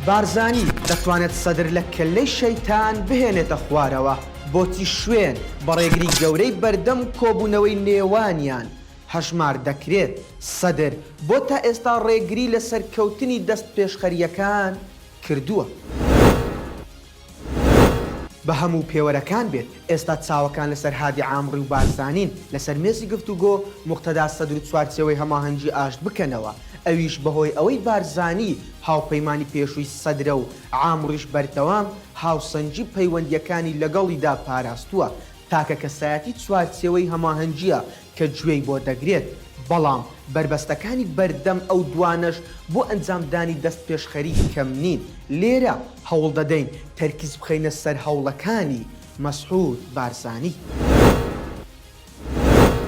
بارزانی دەتوانێت سەدر لە کەللەی شەیتان بهێنێتە خوارەوە، بۆچی شوێن بە ڕێگری گەورەی بەردەم کۆبوونەوەی نێوانیان هەژمار دەکرێت، سەدر بۆ تا ئێستا ڕێگری لە سەرکەوتنی دەستپێشخەرییەکان کردووە؟ بە هەموو پێوەرەکان بێت، ئێستا چاوەکان لەسەر هادی عامڕی و بارزانین، لەسەر مێزی گفتوگۆ موقتەدا سەدر چوارچێوەی هەماهەنگی ئاشت بکەنەوە، ئەویش بەهۆی ئەوەی بارزانی هاوپەیمانی پێشووی سەدرە و عامڕیش بەردەوام هاوسەنگی پەیوەندییەکانی لەگەڵیدا پاراستووە، تاکە کەسایەتی چوارچێوەی هەماهەنگییە کە گوێی بۆ دەگرێت، بەڵام بەربەستەکانی بەردەم ئەو دوانەش بۆ ئەنجامدانی دەستپێشخەری کەم نین، لێرە هەوڵ دەدەین تەرکیز بخەینە سەر هەوڵەکانی مەسعود بارزانی.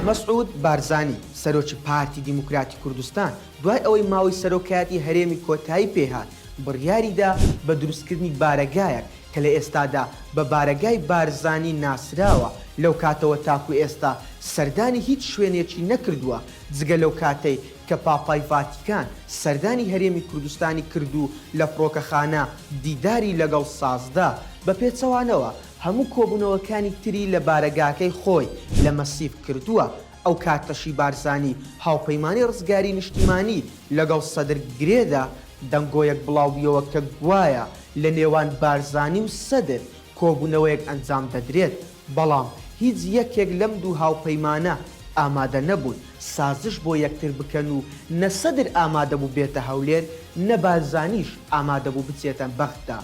مەسعود بارزانی، سەرۆکی پارتی دیموکراتی کوردستان، دوای ئەوەی ماوەی سەرۆکایەتی هەرێمی کۆتایی پێهات، بڕیاریدا بە دروستکردنی بارەگایەک کە لە ئێستادا بە بارەگای بارزانی ناسراوە، لەو کاتەوە تاکو ئێستا سەردانی هیچ شوێنێکی نەکردووە، جگە لەو کاتەی کە پاپای ڤاتیکان سەردانی هەرێمی کوردستانی کرد و لە فڕۆکەخانە دیداری لەگەڵ سازدا، بە پێچەوانەوە هەموو کۆبوونەوەکانی تری لە بارەگاکەی خۆی لە مەسیف کردووە. ئەو کاتەشی بارزانی هاوپەیمانی ڕزگاری نیشتیمانی لەگەڵ سەدر گرێدا، دەنگۆیەک بڵاوبویەوە کە گوایە لە نێوان بارزانی و سەدر کۆبونەوەیەک ئەنجام دەدرێت، بەڵام هیچ یەکێک لەم دوو هاوپەیمانە ئامادە نەبوون سازش بۆ یەکتر بکەن و نە سەدر ئامادەبوو بێتە هەولێر نە بارزانیش ئامادەبوو بچێتە بەغدا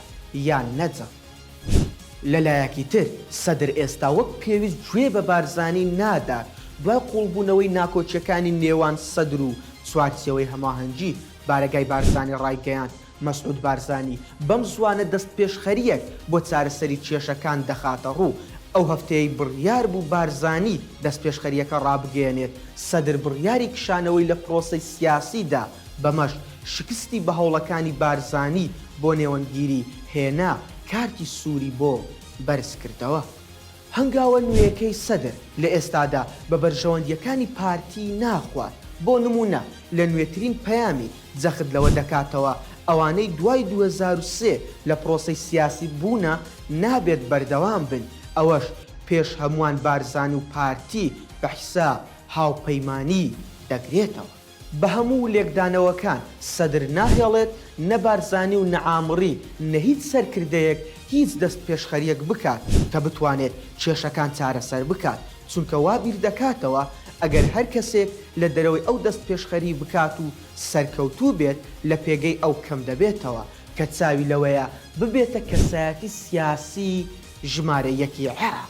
یان نەجەف. لەلایەکی تر سەدر ئێستا وەک پێویست گوێ بە بارزانی نادات، دوای قوڵبوونەوەی ناکۆکییەکانی نێوان سەدر و چوارچێوەی هەماهەنگی، بارەگای بارزانی ڕایگەیاند، مەسعود بارزانی بەم زووانە دەستپێشخەرییەک بۆ چارەسەری کێشەکان دەخاتەڕوو، ئەو هەفتەیەی بڕیاربوو بارزانی دەستپێشخەرییەکە ڕابگەیەنێت، سەدر بڕیاری کشانەوەی لە پرۆسەی سیاسیدا، بەمەش شکستی بە هەوڵەکانی بارزانی بۆ نێوەندگیری هێنا، کارتی سووری بۆ بەرزکردەوە. هەنگاوە نوێیەکەی سەدر لە ئێستادا بە بەرژەوەندییەکانی پارتی ناخوات، بۆ نموونە لە نوێترین پەیامی جەخت لەوە دەکاتەوە ئەوانەی دوای دوو هەزار و سێ لە پرۆسەی سیاسی بوونە نابێت بەردەوام بن، ئەوەش پێش هەمووان بارزانی و پارتی بە حیساب هاوپەیمانی دەگرێتەوە. بە هەموو لێکدانەوەکان سەدر ناهێڵێت نە بارزانی و نە عامری نە هیچ سەرکردەیەک هیچ دەستپێشخەریەک بکات کە بتوانێت کێشەکان چارەسەر بکات، چونکە وا بیردەکاتەوە ئەگەر هەر کەسێک لە دەرەوەی ئەو دەستپێشخەری بکات و سەرکەوتوو بێت لە پێگەی ئەو کەم دەبێتەوە کە چاوی لەوەیە ببێتە کەسایەتی سیاسی ژمارە یەکی عێراق.